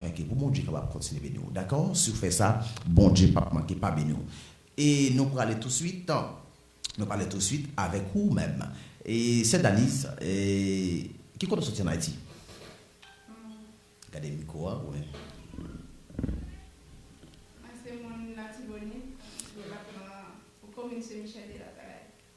Like pou Bondye kapab kontinye beni w dakò si w fè sa Bondye pap manke pa beni w e nou prale touswit nou pale touswit avèk ou menm e sè Daniz e ki kote w soti an Ayiti gade mikwo a goumen. Mwen se moun Latibonit, depatman komin Sen Michèl de Latalay.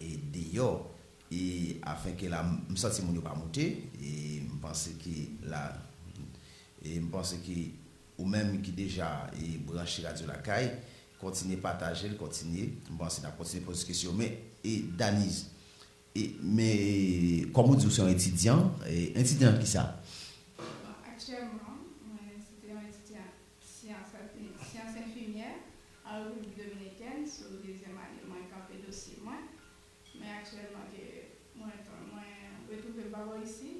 e deyò e afin ke la m santi moun yo pa moute e m panse ke la e m panse ke ou menm ki deja e branche radyo lakay kontinye pataje l kontinye m panse n ap kontinye poze kesyon men e Daniz e men e kòm ou di ou se yon etidyan e etidyan nan kisa? Bon aktyèlman mwen se te yon etidyant Syans Enfimyè an Repiblik Dominikèn sou dezyèm ane mwen kanpe dosye mwen men aktyèlman ke mwen retwouve m pa bò isi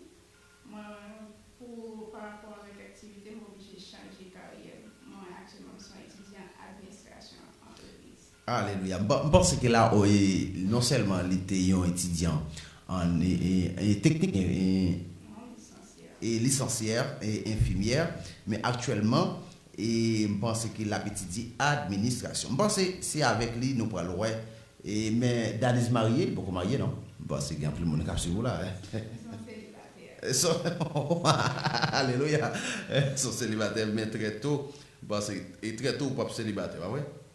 mwen pou parapò avèk aktivite m oblije chanje karyè m mwen aktyèlman m son etidyan administrasyon antrepriz. Alelouya! M panse ke la o e non sèlman li te yon etidyan an e teknik e lisansyè e enfimyè, men aktyèlman e m panse ke l ap etidye administrasyon. M panse se avèk li nou pral wè e men Daniz marye, li poko marye non. M panse gen anpil moun k ap swiv ou la e. Son selibatè. Son Alelouya! Son selibatè men trè to, m panse e trè to ou p ap selibatè, pa vre?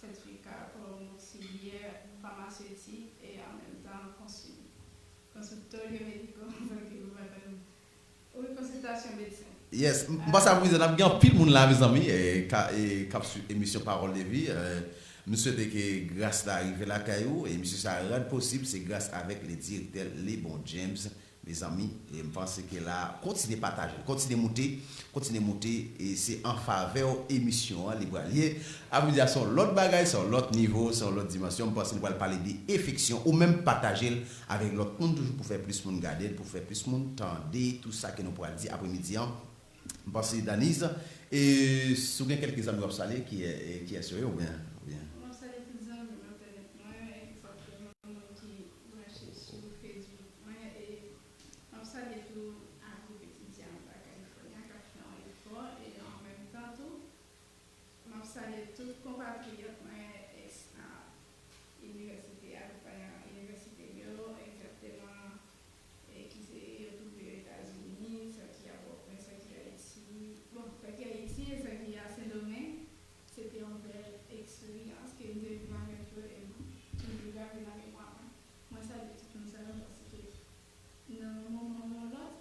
sètifika kòm filyè famasyotik e an menm tan konsiltolyo mediko anvan ke gouvenman ta di wi konsiltasyon medsen. Yes m panse ap rize nap gen anpil moun la mezanmi kap swiv emisyon parol de vi m swete ke gras la rive lakay ou emisyon sa rad posib se gras avek le direktè Lebon James Mezanmi em panse ke la kontinye patajel kontinye moute kontinye moute e se an favèw emisyon an li pral ye a vle dia se yon lòt bagay se yon lòt nivo se yon lòt dimansyon m panse nou pral pale de efeksyon ou menm patajel avèk lòt moun toujou pou fè plis moun gadel pou fè plis moun tande tou sa ke nou pral di apre midi an m panse Daniz e si w gen kèlke zanmi wap salye kiyè kiyès yo ye ou byen ou byen. Map salye tout zanmi entènèt mwen epi fòk ke yon moun ki. Mache sou Facebook mwen e m ap salye tou a gwoup etidyan Bak California k ap fè yon efò e an menm tan tou m ap salye tout konpatriyòt mwen eks a inivèsite a pou pa di inivèsite m yo egzakteman e ki se yo twouve yo Etazini sa ki a Pòtoprens sa ki Ayiti bon sa ki Ayiti e sa ki a Sendomeng Se te yon bèl eksperyans ke m te viv avèk yo e m toujou grave nan memwa mwen. Mwen salye tout moun sa yo paske nan yon moman ou yon lòt,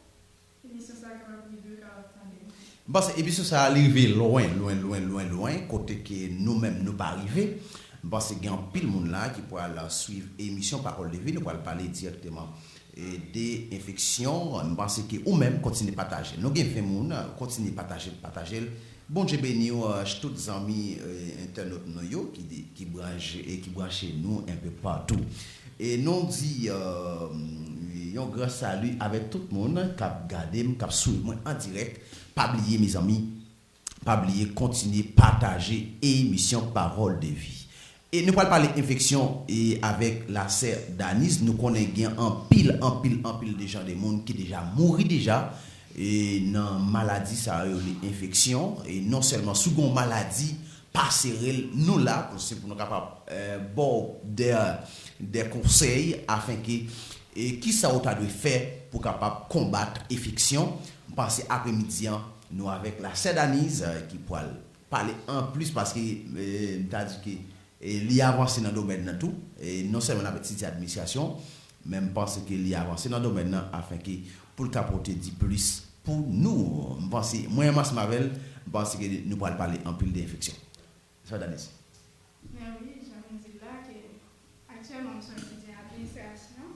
emisyon sa a kapab rive yo, kapab tande mwen. M panse emisyon sa a li rive lwen, lwen, lwen, lwen, lwen, kote ke nou menm nou pa rive. M panse gen anpil moun la ki pral swiv emisyon Pawòl de Vi. Nou pral pale dirèkteman de enfeksyon. M panse ke ou menm kontinye pataje l. Nou gen 20 moun, kontinye pataje l, pataje l. Bondye beniw tout zanmi entènot nou yo ki branche nou enpe patou e nou di yon gran sali avèk tout moun kap gadem kap swiv mwen an dirèk pa bliye mezanmi pa bliye kontinye pataje emisyon parol de vi E nou pral pale enfeksyon e avèk la sè Daniz nou konnen gen anpil anpil anpil de jan de moun ki deja mouri deja e nan maladi sa yo rele enfeksyon e non sèlman si w gen yon maladi pa sere l nou la pou se pou nou kapab ba w dè dè konsèy afin ke e ki sa ou ta dwe fè pou w kapab konbat efeksyon m panse apremidi an nou avèk la sè Daniz ki pral pale anplis paske m ta di ke li avanse nan domèn nan tou, non sèlman nan site administrasyon, men m panse ke li avanse nan domèn nan afin ke pou l ka pote di plis pou nou. M panse, mwen menm ansanm avè l, m panse ke nou pral pale anpil de enfeksyon. Nèspa Danise? Men wi, jan nou di l la ke aktyèlman m sou yon site administrasyon.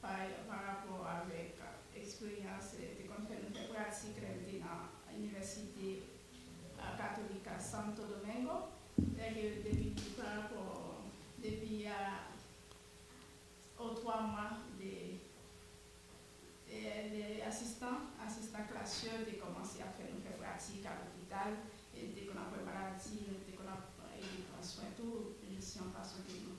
pa rapò avèk eksperyans li te konn fè nan fè pratik lè li te nan Inivèsite Katolika Santo Domingo, sèke depi pa rapò depi a o twa mwa de lè asistan asistan klas yo te kòmanse ap fè nou fè pratik a lopital e li te konn ap wè maladi nou, li te konn ap ede pran swen tou jis yon fason ke nou.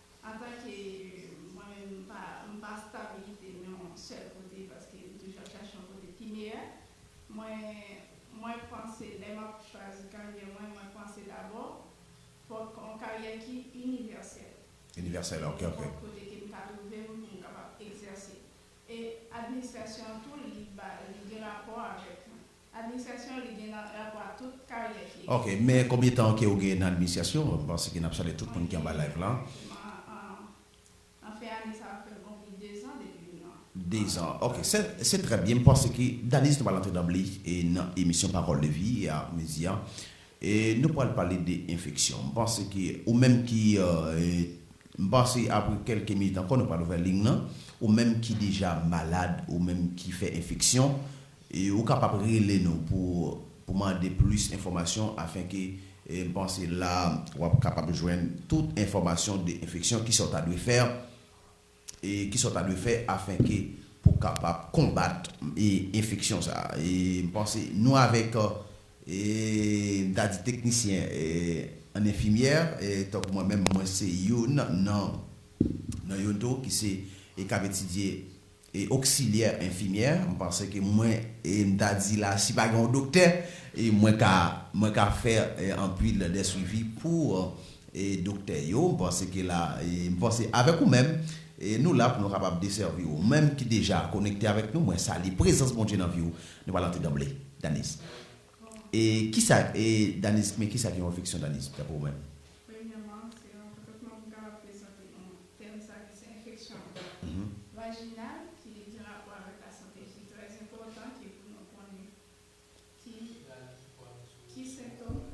Antanke mwen menm m pa m pa stabilite nan yon sèl kote paske m toujou ap chache yon kote pi meyè. Mwen mwen panse lè m ap chwazi karyè mwen, mwen panse dabò fòk yon karyè ki inivèsèl. Inivèsèl ok ok. Nenpòt kote ke m ta twouve m pou m kapab egzèse. E administrasyon an tou li ba li gen rapò avèk Administration li gen nan rapò a tout karyè fi a. Ok men konbyen tan ke ou gen nan administration m panse ke nap salye tout moun ki anba live lan. Exactement an fen ane sa ap fèm konpli 2 zan depi m nan. 2 zan ok se trè byen m panse ke Daniz nou pral antre danble nan emisyon pawòl de vi a midi an e nou pral pale de enfeksyon m panse ke ou menm ki m panse apre kelke minit ankò nou pral ouvè ligne lan ou menm ki deja malad ou menm ki fè enfeksyon Ou kapab rele nou pou mande plis enfòmasyon afenke m panse la w ap kapab jwenn tout enfòmasyon de enfeksyon, kisa w ta dwe fè, kisa w ta dwe fè afenke pou w kapab konbat enfeksyon sa a. M panse nou avèk m ta di teknisyen an enfimyè tankou mwen menm mwen se youn nan youn tou ki se e k ap etidye e oksilyè enfimyè m panse ke mwen e m ta di la si pa gen yon doktè e mwen ka mwen ka fè anpil de swivi pou e doktè yo m panse ke la e m panse avèk ou menm e nou la pou nou kapab desèvi ou menm ki deja konekte avèk nou mwen salye prezans Bondye nan vi ou nou pral antre danble Daniz e kisa e Daniz men kisa ki yon enfeksyon Daniz daprè ou menm. Premyèman, se yon kontantman pou m kapab prezante nou tèm sa ki se enfeksyon vajinal ki gen rapò avèk lasante ki trè enpòtan ki pou nou konnen ki ki sentom ok.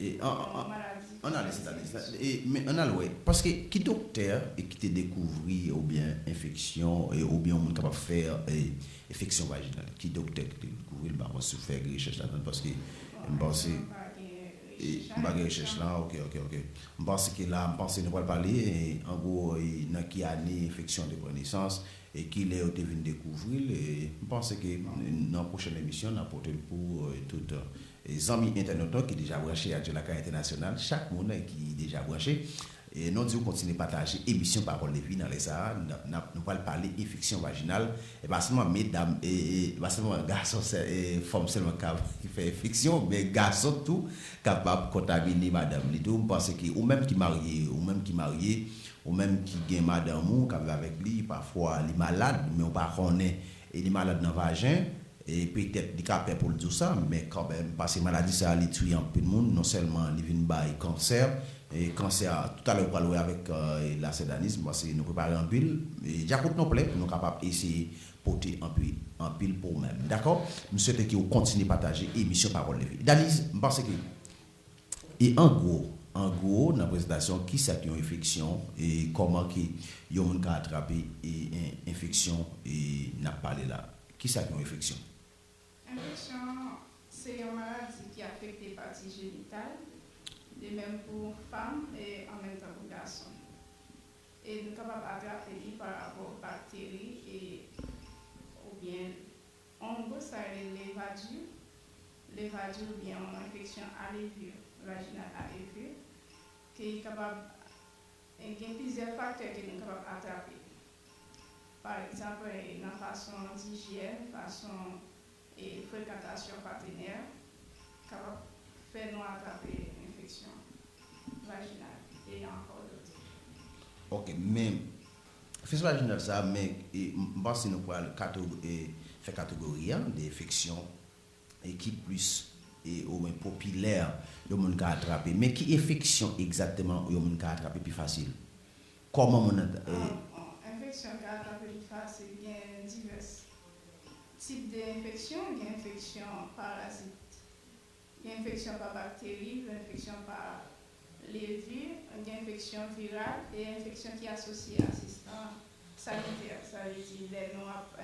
E ann ale sèt ane sa. E men ann al wè. Paske ki doktè ki te dekouvri oubyen enfeksyon oubyen yon moun kapab fè enfeksyon vajinal? Ki doktè ki te dekouvri l? M pa konn si w fè rechèch ladann paske m panse. Bon ane m pa gen rechèch la. M pa gen rechèch la. Ok, ok, ok. M panse ke la, m panse nou pral pale an gwo nan ki ane enfeksyon an te pran nesans e ki lè yo te vin dekouvri l. M panse ke nan pwochèn emisyon n ap pote l pou tout. Zanmi entènot ki deja branche ak Jolakay Entènasyonal, chak moun ki deja branche, nou diw kontinye pataje emisyon Pawòl Levi nan lè sa a nap nou pral pale enfeksyon vajinal, e pa sèlman medam e pa sèlman gason sè e fanm sèlman kap ki fè enfeksyon men gason tou kapab kontamine madanm li tou, m panse ke ou menm ki marye ou menm ki marye ou menm ki gen madanm ou kap viv avèk li pafwa li malad men ou pa konnen E li malad nan vajen, e petèt li ka pè pou l di w sa, men kanmenm, pase maladi sa a li tiye anpil moun, non sèlman li vin bay kansè, e kansè a, tout alè ou pral wè avèk lasedanism, pase nou prepare anpil, e dyakout non plè, nou kapab eseye pote anpi anpil pou ou menm. Dakò? M swete ke ou kontinye pataje emisyon Pawòl Levi. Daniz, m panse ke E an gwo, an gwo nan prezentasyon ki sa ki yon enfeksyon e kòman ke yon moun ka atrape e en enfeksyon e nap pale la. Ki sa ki yon enfeksyon? Enfeksyon se yon maladi ki afekte pati jenital, de menm pou fanm e an menm tan pou gason. E nou kapab atrape li pa rapò bakteri e oubyen. On gwo sa rele levadure, levadure ou byen on enfeksyon a levure, vaginal a levure, ke li kapab gen plizyè faktè ke nou kapab atrape. Pa egzanp nan fason dijyèn, fason frekantasyon patenè kapab fè nou atrape enfeksyon vaginal e ankò dot. Ok men Festival Jounal sa a, men m panse nou pral fè kategori an de enfeksyon ki plis ou mwen popilè yon moun ka atrape. Men ki enfeksyon egzakteman yon moun ka atrape pi fasil? Kòman moun nan. Enfeksyon ka atrape pi fasil gen divès tip de enfeksyon. Gen enfeksyon parazit. Gen enfeksyon pa bakteri, gen enfeksyon pa levir, gen enfeksyon viral e enfeksyon ki asosye a asistan sanitè. Sa vle di lè nou ap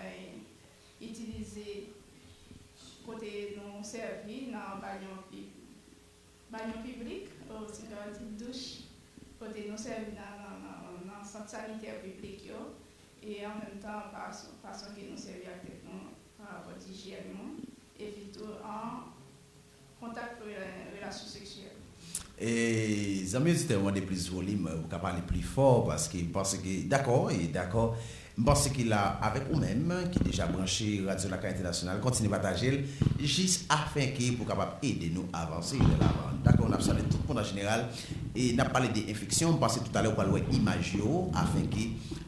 itilize kote nou sèvi nan banyo piblik, si m ka di douch, kote nou sèvi nan sant sanitè piblik yo e an menm tan fason ke nou sèvi ak tèt nou an. Rapòt ijyèn ou, epi tou an kontak pou relasyon seksyèl. Zanmi oditè yo mande plis volim ou ka pale pli fò paske m panse ke dakò e dakò m panse ke la avèk ou menm ki deja branche radyo lakay entènasyonal kontinye pataje l jis afen ke pou kapab ede nou avanse vè lavan n dakò n ap salye tout moun an jeneral e n ap pale de enfeksyon m panse toutalè ou pral wè imaj yo afen ke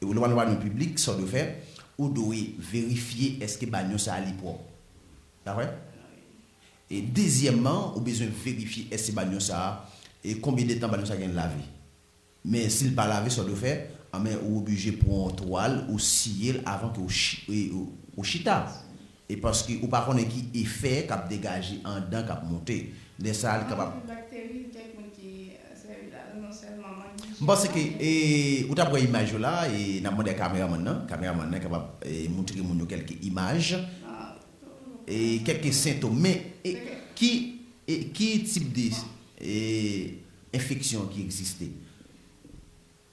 Ou dwe al wè anons piblik sa w dwe fè, ou dwe verifye èske banyo sa a li pwòp. Pa vre? E dezyèmman, ou bezwen verifye èske banyo sa a, e konbyen de tan banyo sa a gen lave. Men si l pa lave sa w dwe fè, anben ou oblije pran yon twal ou siye l avan ke ou chita. E paske ou pa konnen ki efè k ap degaje andan k ap moute. Lè sa a li kapab. Anpil bakteri li gen moun ki sèvi la dan non sèlman mank dijyèn. M panse ke ou t ap wè imaj yo la e n ap mande a kameramann nan. Kameramann nan kapab moutre moun yo kèlke imaj. E kèlke sentom. Men ki ki tip de enfeksyon ki egziste?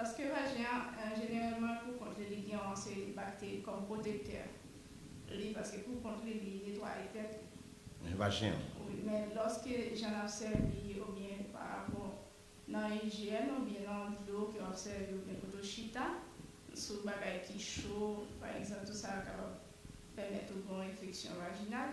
Paske vajen an, jeneralman pou kont li, li gen yon seri de bakteri kòm pwotektè li, paske pou kont li, li netwaye tèt li. Men vajen an. Wi, men lòske jan n ap sèvi oubyen parapò nan ijyèn oubyen nan dlo ke w ap sèvi oubyen kote w chita, sou bagay ki cho, pa egzanp, tou sa kapab pèmèt ou gen yon enfeksyon vajinal.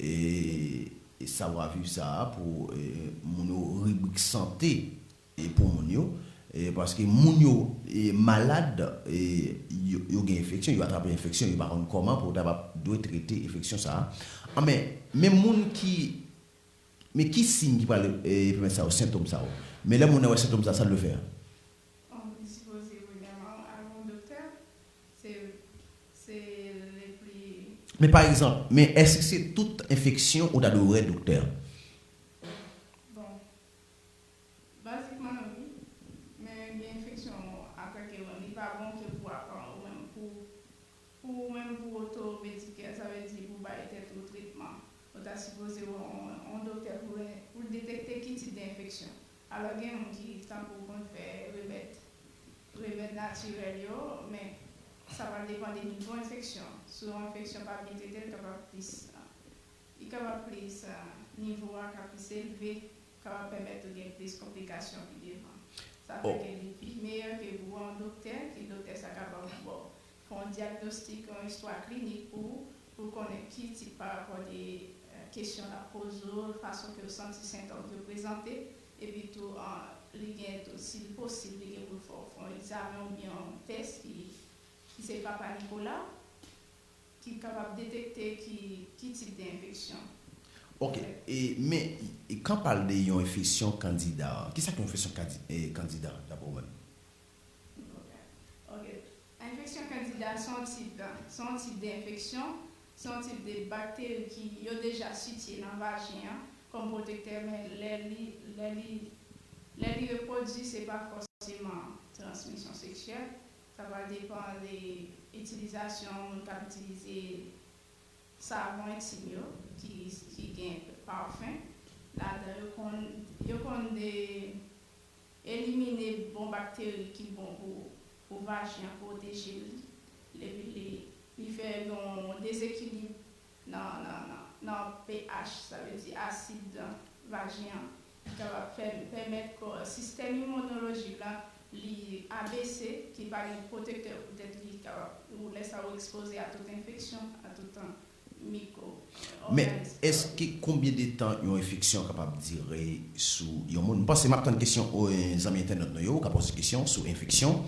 E savwa viv sa a pou moun yo ribrik sante pou moun yo paske moun yo malad yo gen enfeksyon yo atrape enfeksyon yo pa konn kòman pou yo ta dwe trete enfeksyon sa a anben men moun ki men ki siy ki pral pèmèt sa yo sentom sa yo men lè moun nan wè sentom sa a sa l dwe fè. Se le pli. Men pa egzanp, men èske se tout enfeksyon ou ta dwe wè doktè? Bon. Bazikman wi. Men gen enfeksyon ou atake menm li pa bon ke pou apa ou menm pou pou ou menm pou oto medikè sa vle di pou bay tèt ou tretman ou ta sipoze wè yon doktè pou l detekte ki tip de enfeksyon Alò gen moun ki tankou konn fè remèd remèd natirèl yo men sa va depan de nivo enfeksyon si yon enfeksyon pa byen trete l kapab plis li kapab plis nivo a ka plis elve kapab pèmèt ou gen plis konplikasyon pi devan sa fè ke li pi meyè ke pou wè yon doktè ke doktè sa ka ba w bon Fè yon dyagnostik, yon istwa klinik pou ou, pou l konnen ki tip pa rapò de kesyon l ap poze w, fason ke w santi sentòm yo prezante, epi tou li gen tou si l posib li gen pou l fè w fè yon egzamen ou byen yon tès ki ki se Papa Nikola ki kapab detekte ki ki tip de enfeksyon. Ok, e men kan pale de yon enfesyon kandida, kisa k yon enfesyon kandida dapre ou menm? Enfeksyon kandida se yon tip se yon tip de enfeksyon, se yon tip de bakteri ki yo deja sitye nan vajen an kòm pwotektè men lè li lè li lè li repwodui se pa fòseman transmisyon seksyèl sa pral depan de itilizasyon moun kap itilize savon entim yo ki ki gen pafen ladan yo konn yo konn de. Elimine bon bakteri ki bon pou pou vajen an pwoteje l epi li li fè yon dezekilib nan nan nan pH sa vle di asid nan vajen an ki kapab fè pèmèt kò sistèm imonolojik la li abese ki pa gen pwotektè poutèt li kapab ou lè sa ou ekspoze a tout enfeksyon a tout Miko. Men, èske konbyen de tan yon enfeksyon kapab dire sou yon moun? M panse m ap tann kesyon zanmi entènot nou yo. Ou ka poze kesyon sou enfeksyon.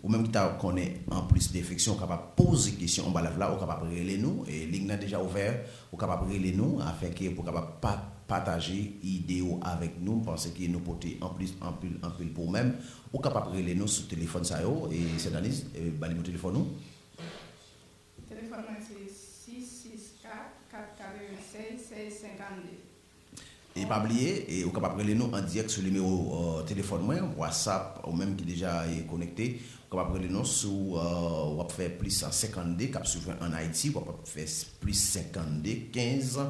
Ou menm ki ta konnen anplis de enfeksyon, ou kapab poze kesyon anba live la. Ou kapab rele nou. Liy nan deja ouvè. Ou kapab rele nou afin ke pou kapab pataje ide ou avèk nou. M panse ke nou pote anplis anpil anpil pou ou menm. Ou kapab rele nou sou telefòn sa yo. Sèdaniz, ba li mo telefòn ou. Telefòn mwen se 664 496 1652. E pa bliye, ou kapab rele nou an dirèk sou nimewo telefòn mwen, Whatsapp, ou menm ki deja konekte, ou kapab rele nou sou w ap fè plis 52 k ap swiv mwen an Ayiti, w ap fè plis 52 15.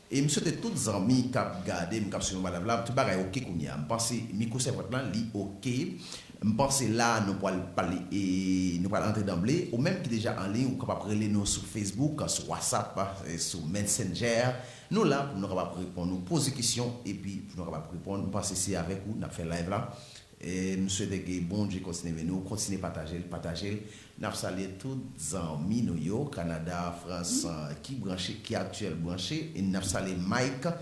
E m swete tout zanmi kap gade m kap swiv anba live la tout bagay ok kounya m panse micro sèvant lan li ok m panse la nou pwal pale e nou pral antre danble ou menm ki deja an liy ou kapab rele nou sou facebook sou whatsapp sou mensenger nou la pou nou kapab reponn ou poze kesyon epi pou nou kapab reponn m panse se avèk ou nap fè live la M swete ke Bondye kontinye beni w, kontinye pataje l, pataje l. N ap salye tout zanmi nou yo, Kanada, Frans, ki branche, ki aktyèl branche. N ap salye Mike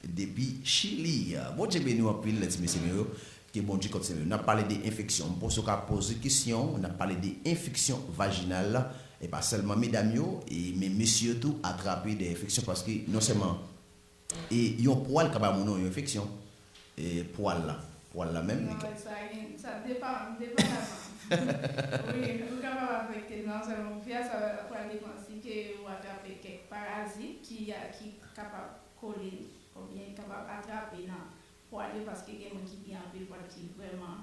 depi Chili. Bondye beni w anpil ti mesye m yo, ke Bondye kontinye beni w. N ap pale de enfeksyon. M panse w ka poze kesyon, n ap pale de enfeksyon vajinal, e pa sèlman medam yo, men mesye yo tou atrape de enfeksyon paske non sèlman, E yon pwal ka ba moun yon enfeksyon e pwal la pwal la menm li ka. Sa va gen sa depan depandaman wi ou kapab afekte non sèlman fi a sa pral depan si ke ou atrape kèk parazit ki ki kapab kole ou byen kapab atrape nan pwal yo paske gen moun ki gen anpil pwal ki vrèman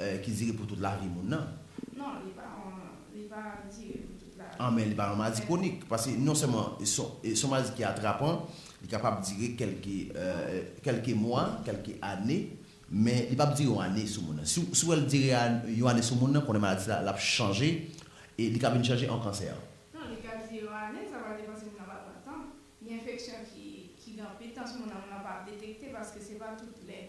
Ki dire pou tout lavi moun nan. Non, li pa yon, li pa dire pou tout lavi. An men li pa yon maladi kwonik. Paske non sèlman se yon maladi ki atrapan, li kapab dire kèlke, kèlke mwa, kèlke ane, men li pap dire yon ane sou moun nan. Si w wè l dire yon ane sou moun nan, konnen maladi sa l ap chanje e li ka vin chanje an kansè. Non, li ka dire yon ane, sa va depan si moun nan pa pran tan. Gen enfeksyon ki, ki gen anpil tan sou moun nan, moun nan pa ap detekte paske se pa tout lè.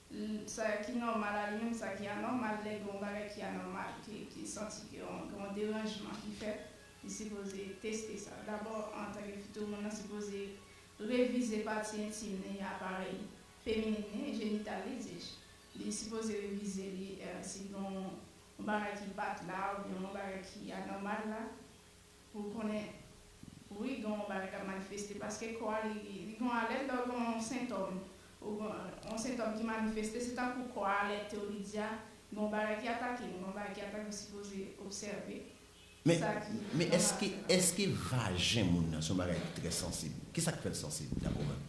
L, Sa ki nòmal a li menm sa ki anòmal lè gen yon bagay ki anòmal ke ki santi ke yon gen yon deranjman ki fèt li sipoze teste sa. Dabò antanke fi tou moun nan sipoze revize pati entim li aparèy feminin li jenital li di je li sipoze revize li si gen yon bagay ki bat la oubyen yon bagay ki anòmal la. Poul konnen wi gen yon bagay kap manifeste paske kò a li li gen yon alèt lè ou gen yon sentòm ou gen yon sentòm ki manifeste se tankou kò a alètew li di a gen yon bagay ki atakem gen yon bagay ki atake ou sipoze obsève Men sa ki men nòmal eske la. eske vajen moun nan se yon bagay ki trè sansib? Kisak fèl sansib daprè ou menm?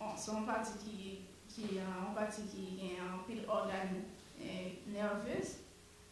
Bon se yon pati ki ki yon pati ki gen anpil ògàn nèvez.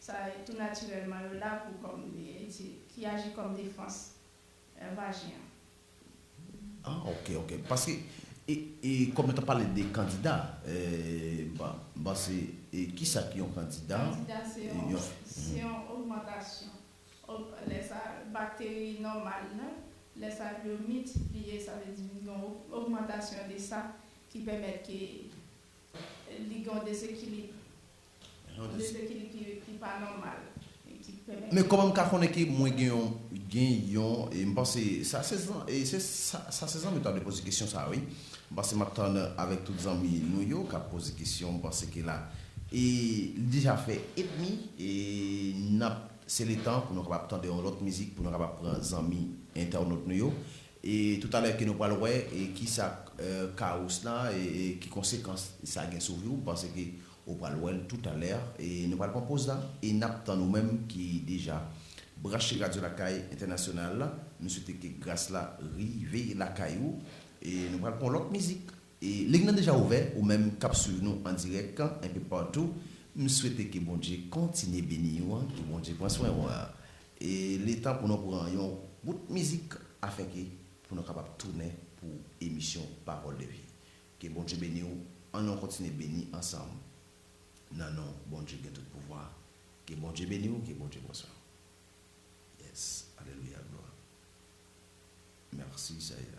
Sa e tou natirèlman yo la pou kòm eti ki aji kòm defans vajen an. Ah ok ok paske e kòm yo tap pale de kandida m panse e kisa ki yon kandida. Kandida se yon se yon ogmantasyon lè sa bakteri nòmal nan lè sa li yo miltipliye sa vle di vin gen yon ogmantasyon de sa ki pèmèt ke li gen yon desekilib. Men kòman m ka konnen ke mwen gen yon, gen yon, m panse sa se sa se zanmi yo ta dwe poze kesyon sa wi. M panse m ap tann avèk tout zanmi nou yo k ap poze kesyon, m panse ke la e li deja fè edmi e n ap se letan pou nou kapab tande yon lòt mizik pou nou kapab pran zanmi entènot nou yo e toutalè ke nou pral wè e kisa Carus la e ki konsekans sa gen sou vi w, m panse ke Ou pral wèl tout a lè. Nou pral pran poz la e nap tann ou menm ki deja branche Radyo Lakay Entènasyonal la. Nou swete ke gras la rive lakay ou. Nou pral pran yon lòt mizik. Ling nan deja ouvè ou menm kap swiv nou an dirèk enpe patou. M swete ke Bondye kontinye beni ou, ke Bondye pran swen ou. E li tan pou nou pran yon bout mizik afenke pou nou kapab tounen pou emisyon Pawòl de vi. Ke Bondye beni w an nou kontinye beni ansanm nan non Bondye gen tout pouvwa ke Bondye beni w ke Bondye pran swen w yes alelouya glwa merci sèyè.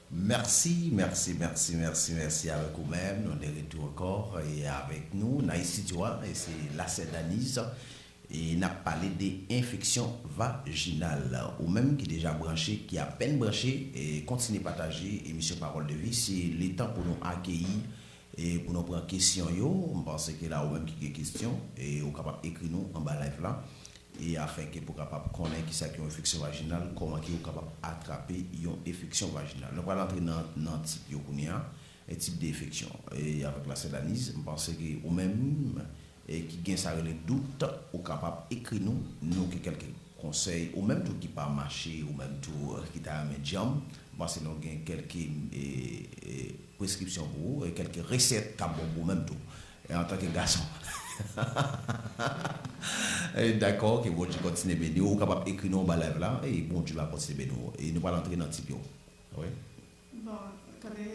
Merci merci merci merci merci avèk ou menm nou de retou ankò e avèk nou nan estidyo a e se la sè Daniz e nap pale de enfeksyon vajinal ou menm ki deja branche ki apèn branche kontinye pataje emisyon pawòl de vi se le tan pou nou akeyi e pou nou pran kesyon yo m panse ke la ou menm ki gen kesyon e ou kapab ekri nou anba live la. e afin ke pou kapab konnen kisa ki yon enfeksyon vajinal, kòman ke ou kapab atrape yon efeksyon vajinal. Nou pral antre nan nan tip yo kounye a, e tip de efeksyon. E avèk la sèl Anise, m panse ke ou menm e ki gen sa rele dout, ou kapab ekri nou, nou gen kèlke konsèy, ou menm tou ki pa mache, ou menm tou ki ta renmen djanm, m panse nou gen kèlke e e preskripsyon pou ou, e kèlke resèt kap bon pou ou menm tou. E antanke gason. Hahahaha Dakò ke Bondye kontinye beniw ou kapab ekri non anba live la e Bondye va kontinye beni w e nou pral antre nan tip yo wi. Bon tande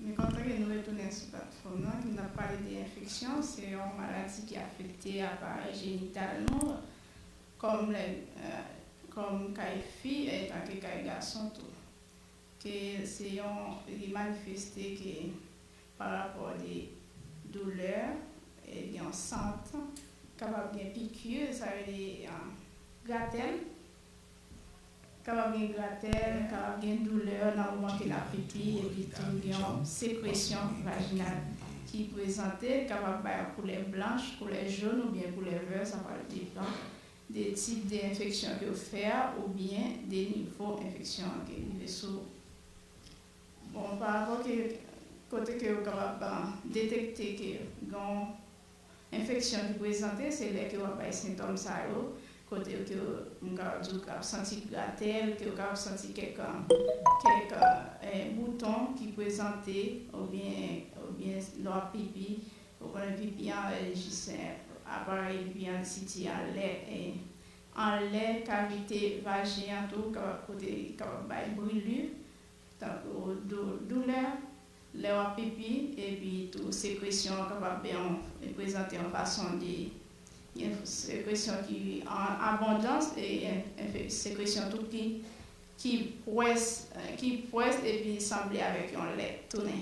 me kontan ke nou retounen sou platfòm nan ke nap pale de enfeksyon se yon maladi ki afekte aparèy jenital nou kòm lè kòm kay fi etanke kay gason tou. Ke se yon li manifeste ke pa rapò de doulè gen yon sant kapab gen pikir sa rele gratèl kapab gen gratèl kapab gen doulè nan moman ke lap pipi epi tou gen yon sekresyon vajinal ki prezante kapab bay yon koulè blanch koulè jòn oubyen koulè vè sa pral depan de tip de enfeksyon ke w fè a oubyen de nivo enfeksyon an ke rive sou ou. Bon, pa rapò ke kote ke yo kapab detekte ke gen yon enfeksyon ki prezante se lè ke w ap bay sentòm sa yo, kote ke m kapab di w ka ap santi gratèl, ke w ka ap santi kèk kèk bouton ki prezante oubyen oubyen lè w ap pipi Ou konnen Vivian e Jissen aparèy Vivian si ti a lè e anlè kavite vajen an tou kapab pote kapab bay brilu tankou doulè lè wap pipi epi tou sekresyon an kapab e prezante yon fason de gen sekresyon ki an abondans e sekresyon tou ki ki pwès ki pwès epi sanble avèk yon lèt tounen.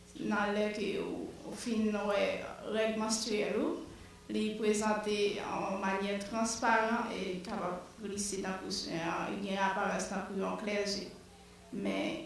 Nan lè ke ou fin wè règ manstriyèl ou, li prezante an manyè transparan e kapab glise nan kouswen an, li gen aparans tankou yon klèje. Men,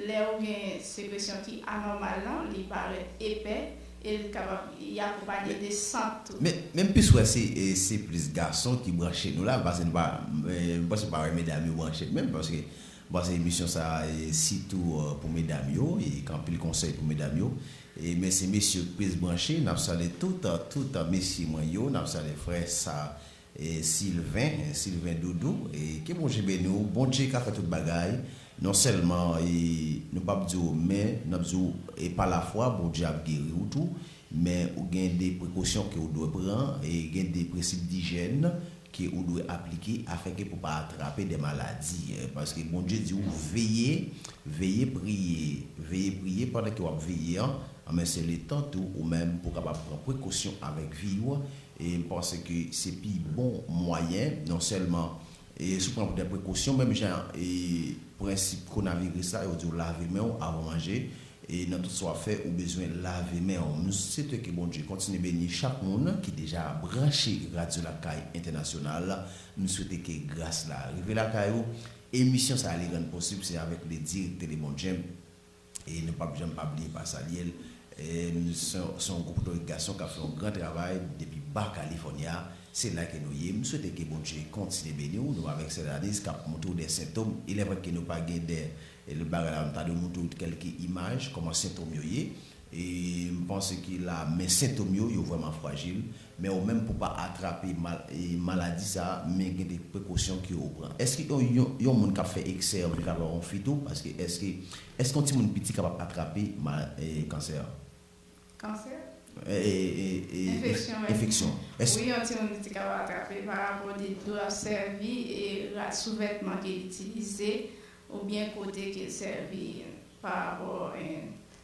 lè ou gen sekresyon ki anòmal lan, li parèt epè e li kapab li akonpanye de sant tou. Men m plis wè se plis gason ki branche nou la, m panse nou pa, m panse ou pa wè medam yo branche menm paske M panse emisyon sa sitou pou medam yo e k anpil konsèy pou medam yo e mèsi mesye k plis branche nap salye tout tout mesye mwen yo nap salye frè sa Sylvain Sylvain doudou e ke Bondje beni w Bondje ka fè tout bagay non sèlman e nou pap di w men nap di w e pa lafwa Bondje ap geri w tou Men ou gen de prekosyon ke ou dwe pran e gen de prensip dijèn ke ou dwe aplike afin ke pou pa atrape de maladi. Paske Bondye di ou veye, veye priye, veye priye pandan ke wap veye an, anben se le tan tou ou menm pou kapab pran prekosyon avèk vi ou e m panse ke se pi bon mwayen non sèlman E si w pran dè prekosyon menm jan e prensip konaviris la, yo di w lave men w avan manje, e nan tout sa w ap fè ou bezwen lave men w. M swete ke Bondye kontinye beni chak moun ki deja branche Radyo Lakay Entènasyonal. M swete ke gras la rive lakay ou. Emisyon sa li rann posib se avèk ledi Telebondjen. e nou pap janm pa bliye pa salye l se yon gwo potorik gason kap fè yon gran travay depi Baja California se la ke nou ye m swete ke Bondye kontinye beni w nou avèk sè Danice kap montre w de sentom ilè vre ke nou pa gen de lòt bagay la nou ta dwe montre w kelke imaj kòman sentom yo ye e m panse ke la men sentom yo yo vrèman frajil Men ou menm pou pa atrape maladi sa a men gen de prekosyon ke ou pran. Eske yon moun kap fè eksè an viv avè yon fi tou? Paske eske eske yon timoun piti kapab atrape kansè an? Kansè? Enfeksyon. Enfeksyon. Wi yon timoun piti kapab atrape pa rapò de dlo ap sèvi e rad sou vètman ke l itilize oubyen kote ke l sèvi pa rapò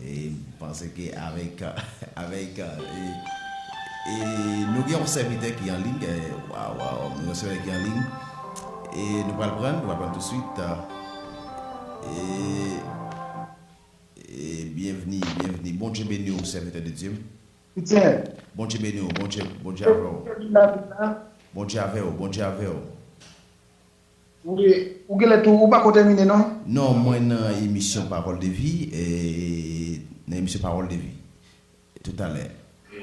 M panse ke avèk avèk e nou gen yon sèvitè ki an liy waw nou gen yon sèvitè ki an liy e nou pral prann nou pral prann tousuit e e byenvni byenvni Bondye beni w sèvitè de Dye m Soutyen Bondye beni w Bondye Bondye avè w Bondye avè w Bondye avè w. Ou genlè tou ou pako tèmine non. Non mwen nan emisyon parole de vie nan emisyon parole de vie toutalè.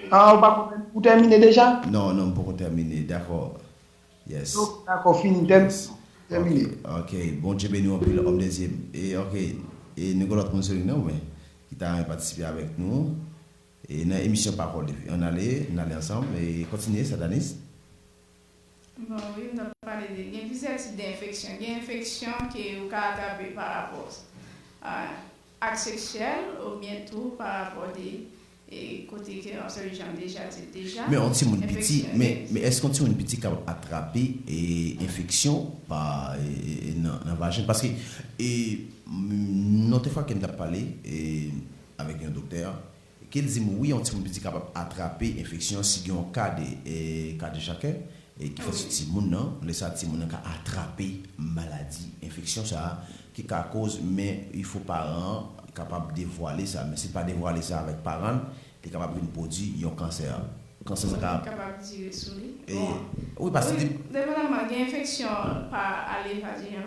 Ah ou pako ou tèmine deja? Non non m poko tèmine dakò yes. Ok dakò fini tèmine. Ok Bondye beniw anpil homme de Dieu ok e nou gen lòt moun Sony nan mwen ki ta renmen patisipe avèk nou nan emisyon parole de vie an ale n ale ansanm kontinye Satanis. Bon wi m tap pale de gen plizyè tip de enfeksyon gen enfeksyon ke ou ka atrape pa rapò ak seksyèl ou byen tou pa rapò de kote ke wap sèvi janm deja di l deja Men yon timoun piti men men èske yon timoun piti kapab atrape enfeksyon pa nan vajen paske e m yon tefwa ke m tap pale avèk yon doktè. Ke l di m wi yon timoun piti kapab atrape enfeksyon si gen yon ka de kadejakè ki fèt sou timoun nan, lè sa timoun nan ka atrape maladi enfeksyon sa a ki ka koz men il fo paran an kapab devwale sa men si l pa devwale sa avèk paran l li kapab vin pwodwi yon kansè kansè sa ka kapab dire sou li wi paske li. Depatamman gen enfeksyon pa ale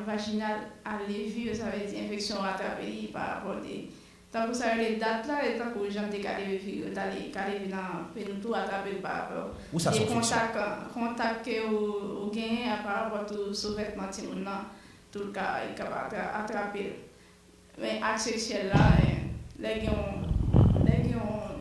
vaginal ale vir sa vle di enfeksyon atrape li pa rapò de Tankou sa rele dat la e tankou jan m te kale vi figi yo tale kale vi nan pe nou tou atrape l pa rapò de kontak kontak ke ou genyen a pa rapò tou sou vètman timoun nan tou l ka li ka pa atrape l men ak seksyèl la lè gen yon lè gen yon.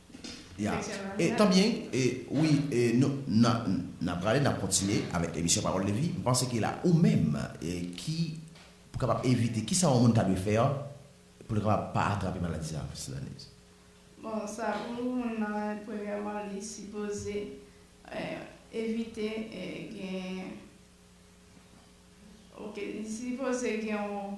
Yeah tan byen wi nou nan prale nap kontinye avèk emisyon pawòl de vi mpanse ke la ou menm ki pou kapab evite kisa yon moun ta dwe fè pou l kapab pa atrape maladi sa Miss Lanise? Bon sa pou moun nan premyèman li sipoze evite gen ok li sipoze gen yon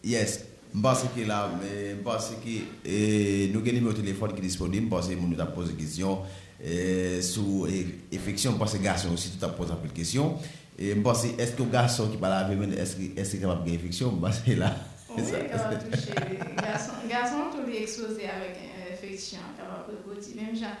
Yes m panse ke la m panse ke nou gen nimewo telefòn ki disponib m panse moun yo tap poze kesyon sou efeksyon m panse gason yo sitou tap poze anpil kesyon m panse eske yon gason ki pa lave men l eske kapab gen efeksyon m panse la wi yo kapab touche gason tou li ekspoze avèk efeksyon kapab repwodui menm jan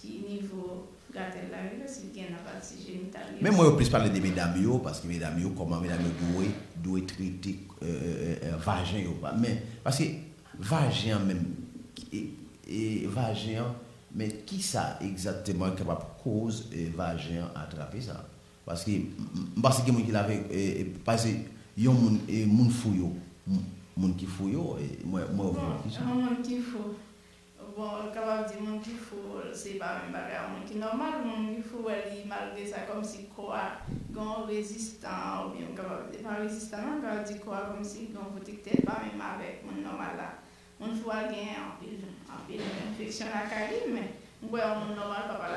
Ki nivo gatèl la rive si li gen nan pati jenital li Men mwen yo plis pale de medam yo paske medam yo kòman medam yo dwe dwe trete vajen yo men paske vajen an menm vajen an men kisa egzakteman ki kapab koz vajen an atrape sa paske m panse gen moun ki lave pase yon moun moun fou yo moun ki fou yo mwen yo fou yo Yon moun ki fou Bon l kapab di moun ki fou se pa menm bagay ak moun ki nòmal, moun ki fou wè li malgre sa kòmsi kò a gen yon rezistan oubyen m kapab di pa rezistan non m kapab di kò a kòmsi gen yon pwotektè l pa menm avèk moun nòmal la. Moun fou a gen anpil anpil enfeksyon lakay li men m kwè yon moun nòmal pap al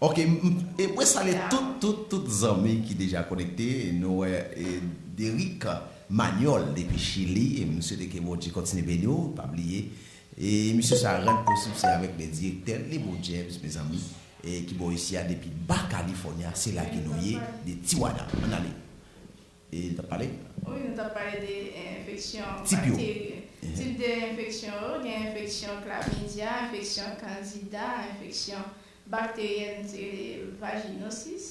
Ok m epre salye tout tout tout zanmi ki deja konekte nou wè Derick Manuel depi chili m swete ke Bondye kontinye beni w pa bliye emisyon sa a rann posib se avèk men direktè l Lebon James mezanmi ki bò isi a depi Ba California se la ke nou ye de Tijuana ann ale e nou t ap pale. Wi nou t ap pale de enfeksyon bakteri tip de enfeksyon yo gen enfeksyon klamidya enfeksyon kandida enfeksyon. Bakteryen ti rele vajinosis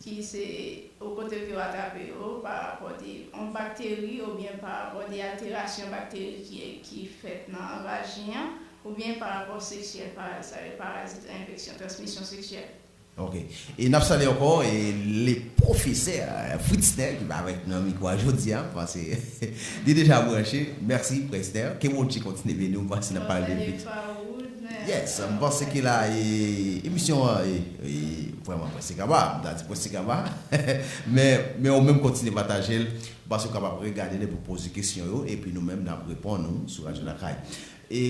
ki se ou kote ke ou atrape yo pa rapò de yon bakteri oubyen pa rapò de alterasyon bakteri ki ki fèt nan vajen an oubyen pa rapò seksyèl pa sa yo parazit enfeksyon transmisyon seksyèl. Ok. E nap salye ankò e le pwofesè Fritzner ki pa avèk nou nan mikwo a jodi a, m panse li deja branche. Mèsi Prester. Ke Bondje kontinye beni w, m panse nap pale de l pi ta. Yes m panse ke la e emisyon an e vrèman prèske kaba, m ta di prèske kaba men men ou menm kontinye pataje l paske ou kapab regade l epi w poze kesyon yo epi nou menm n ap reponn ou sou Radyo Lakay e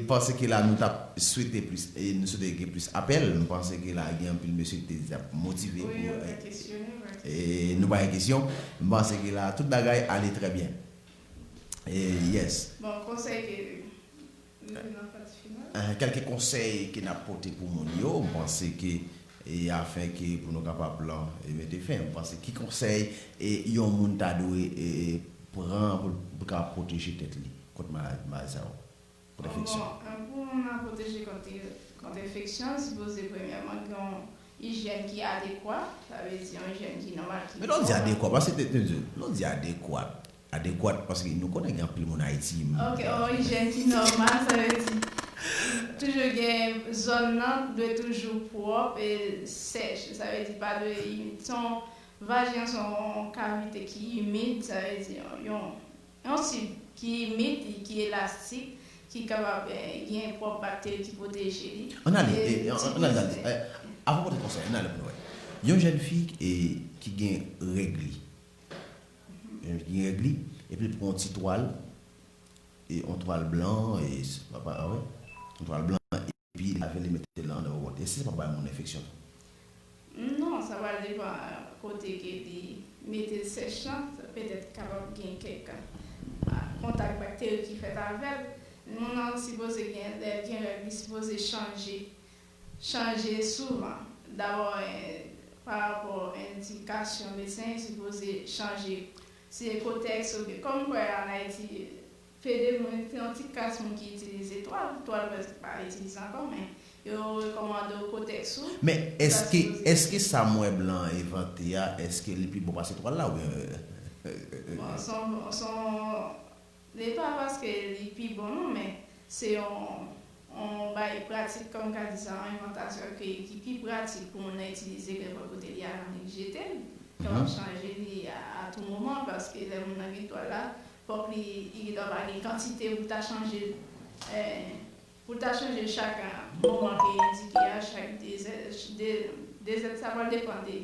m panse ke la nou t ap swete plis e nou swete gen plis apèl m panse ke la gen anpil mesye ki te di y ap motive pou e nou pa gen kesyon m panse ke la tout bagay ale trè byen e yes. Bon konsèy ke. Kèlke konsèy ke nap pote pou moun yo, m panse ke afin ke pou nou kapab lan e mete fen, m panse ki konsèy yon moun ta dwe pran pou l ka pwoteje tèt li kont maladi sa yo, kont enfeksyon? Bon, pou moun lan pwoteje kont enfeksyon, l sipoze premyèman gen yon ijyèn ki adekwa, sa vle di yon ijyèn ki nòmal, ki kòrèk. Lè w di adekwa, paske, lè w di adekwat, Adekwat paske nou konnen gen anpil moun Ayiti m. Ok yon ijèn ki nòmal sa vle di toujou gen zòn nan dwe toujou pwòp e sèch sa vle di pa dwe imid se yon vajen an se yon kavite ki imid sa vle di yon yon tib ki imid li ki elastik ki kapab gen pwòp bakteri ki pwoteje li An ale an ale avan w pote konsèy an ale pou nou wè yon jèn fi ki gen règ li. Li rèd li epi pran yon ti twal e yon twal blan e se pa bay yon twal blan epi lave li mete l nan andan yon bòl e se pa bay moun enfeksyon tou? Non sa va depan kote ke li mete l sèch lan petèt kapab gen kèk kontak bakteri ki fèt avèl moun nan sipoze gen lèl gen règ li sipoze chanje chanje souvan. Dabò 1 pa rapò endikasyon medsen yo sipoze chanje. Se kotèks oubyen kòm m kwè an Ayiti pede moun gen yon ti klas moun ki itilize twal. Twal prèske pa itilize ankò men yo rekòmande w kotèks ou Men ou ta èske sipoze èske sa m wè blan an envante a èske li pi bon pase twal la oubyen Bon s on s on Li pa paske li pi bon non men se yon yon bay pratik kòm ka di sa yon envantasyon ke ki pi pratik pou moun nan itilize ke lè kote li a nan li jete l ke wap chanje li a tou moman paske lè moun nan gen twal la fòk li li gen dwa pa gen kantite pou ta chanje l pou ta chanje l chak moman ke endike a chak 2 zè 2 zèd sa pral depan de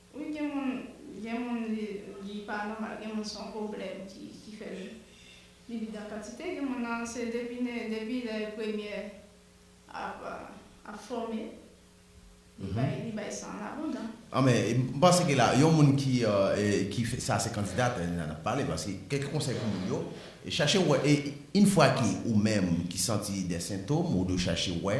Wi gen moun gen moun li pa nòmal gen moun son pwoblèm ki fè li vide an kantite gen moun nan se depi ne depi lè premyè ap fòme li bay li bay san an abondan. An men m panse ke la yon moun ki ki fè sa se kandida tè la nap pale paske kèk konsèy pou moun yo chache wè e in fwa ke ou menm ki santi dè sentom ou dwe chache wè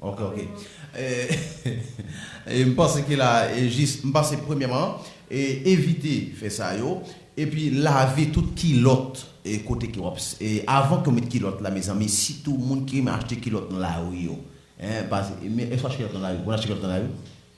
Ok ok e m panse ke la e jis m panse premyèman e evite fè sa yo epi lave tout kilòt e kote ke wap e avan ke w met kilòt la mezanmi sitou moun ki renmen achte kilòt nan lari yo en pase e men eswa kilòt nan lari ou konn achte kilòt nan lari.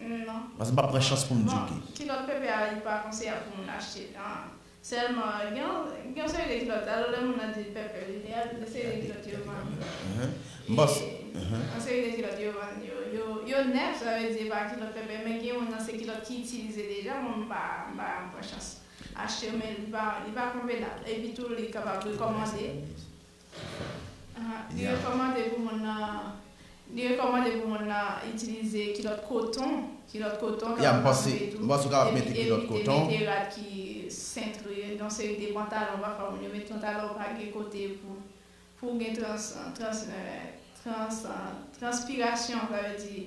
Non. Pase pap pran chans poum diw ki. Bon kilòt pepe a li pa konseyab pou moun achte an sèlman gen yon gen yon seri de kilòt alò lè moun nan dil pepe li gen yon seri de kilòt yo vann m panse yon seri de kilòt yo vann yo yo yo nèf sa vle di e pa kilòt pepe men gen youn nan se kilòt ki itilize deja bon m pa m pa pran chans achte yo men li pa li pa konvenab epi tou li kapab rekòmande. Li rekòmande pou moun nan Li rekòmande pou moun nan itilize kilòt koton, kilòt koton kapab ap move tou, epi evite mete rad ki sentre, yon seri de pantalon pafwa moun yo met pantalon pa gen kote pou pou gen trans trans transpirasyon sa vle di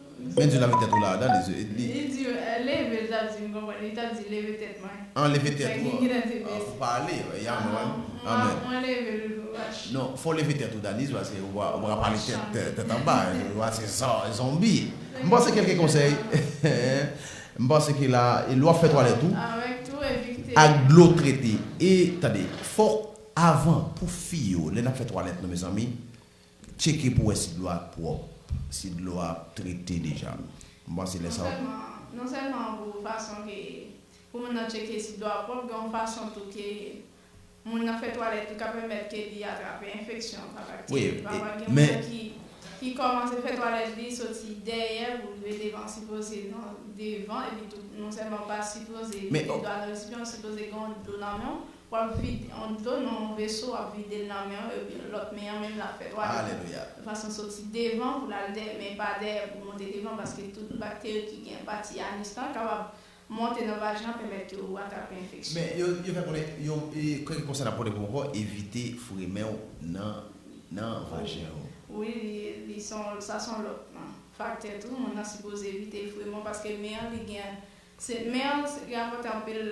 Men di lave tèt ou la ada lezye edmi. Li di leve l tap di m konprann li tap di leve tèt mwen. An leve tèt ou an pou pale amen. Mwen leve l vach. Non fò w leve tèt ou Daniz paske ou pa pale tèt anba ou a se zonbi. M panse kelke konsèy m panse ke la lè wap fè twalèt ou ak dlo trete e tande fòk avan pou fi yo lè nap fè twalèt nou mezanmi Tcheke pou wè si dlo a pwòp, si dlo a trete deja. M panse lè sa w. Non sèlman pou fason ke pou moun nan tcheke si dlo a pwòp, gen yon fason tou ke moun nan fè twalèt li ka pèmèt ke li atrape enfeksyon pa bakteri. Pafwa gen moun nan ki kòmanse fè twalèt li soti dèyè pou rive devan sipoze nan devan epitou non sèlman pa sipoze mete dlo a nan resipyan sipoze gen yon dlo nan men w Wap vide yon dlo nan yon veso wap videl nan menw epi lòt men an menm lap fè twalèt Alelouya. Yon fason soti devan poul al dèyè men pa dèyè pou monte devan paske tout bakteri ki gen pati anus lan kapab monte nan vajen an pèmèt ke ou atrape enfeksyon. Men yo yo fè konnen yon kèk konsèy nap pote pou ou ankò evite foure menw nan nan vajen ou. Wi li li son sa son lòt faktè tou moun nan sipoze evite foure menw paske men an li gen se men an li rapòte anpil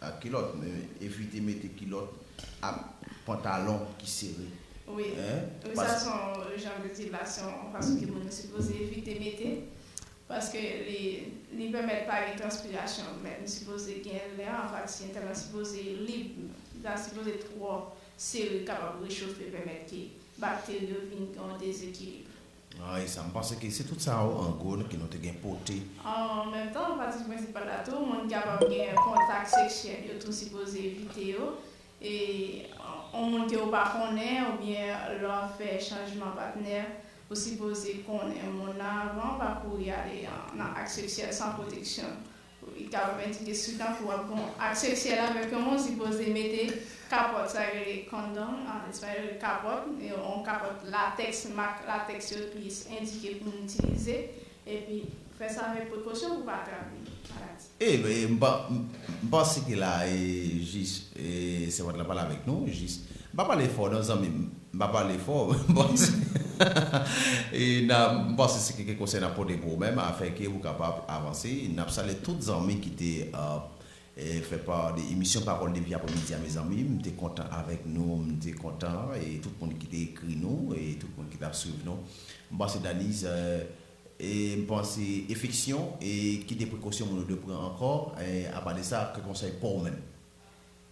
Ak kilòt men evite mete kilòt ak pantalon ki sere. Wi wi sa son jan de ti lasyon fason ke moun sipoze evite mete paske li li pèmèt pa gen transpirasyon men li sipoze gen lè an pati entèn lan sipoze lib li pa sipoze twò sere kapab rechofe pèmèt ke bakteri yo vin gen yon dezekilib. An e sa. M panse ke se tout sa yo an gwo ke nou te gen pote. An menm tan, pati prensipal la tou, moun ki kapab gen kontak seksyèl yo tou sipoze evite yo. E yon moun ke ou pa konnen oubyen lè w ap fè chanjman patnè, ou sipoze konnen moun nan avan, pa kouri ale nan ak seksyèl san pwoteksyon. Li ka pèmèt ou gen swit anfou ap gon ak seksyèl avèk yon moun sipoze mete kapòt sa yo rele condom an espayòl kapòt yon kapòt latèks mak latèks yo plis endike pou moun itilize epi fè sa avèk prekosyon pou pa trape maladi. E m panse ke la e jis sèvant la pale avèk nou jis M pa pale fò non zanmim. M pa pale fò m panse e nan m panse se kèk konsèy nap pote pou ou menm afè ke ou kapab avanse nap salye tout zanmi ki te fè pa de emisyon pawòl depi aprè midi a mezanmi m te kontan avèk nou m te kontan e tout moun ki te ekri nou e tout moun ki tap swiv nou m panse Daniz e m panse efeksyon e ki de prekosyon moun yo dwe pran ankò e apa de sa kèk konsèy pouw menm.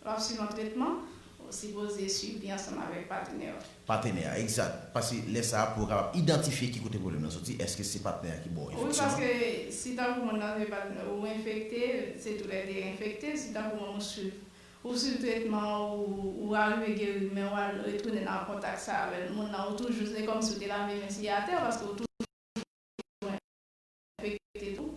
Lè w ap swiv yon tretman, ou sipoze swiv li ansanm avèk patenè w. Patenè a, egzat. Paske lè sa a pou yo kapab idantifye ki kote pwoblèm nan soti, èske se patnè a ki bo w Wi, efektiman. paske si tankou moun nan se patnè w ou enfekte, se tou lè de enfekte, si tankou moun ou swiv, ou swiv tretman ou, ou arive geri men ou al retounen nan kontak sa avè l, moun nan ou toujou, se kòmsi ou te lave men si atè paske ou toujou enfekte tou.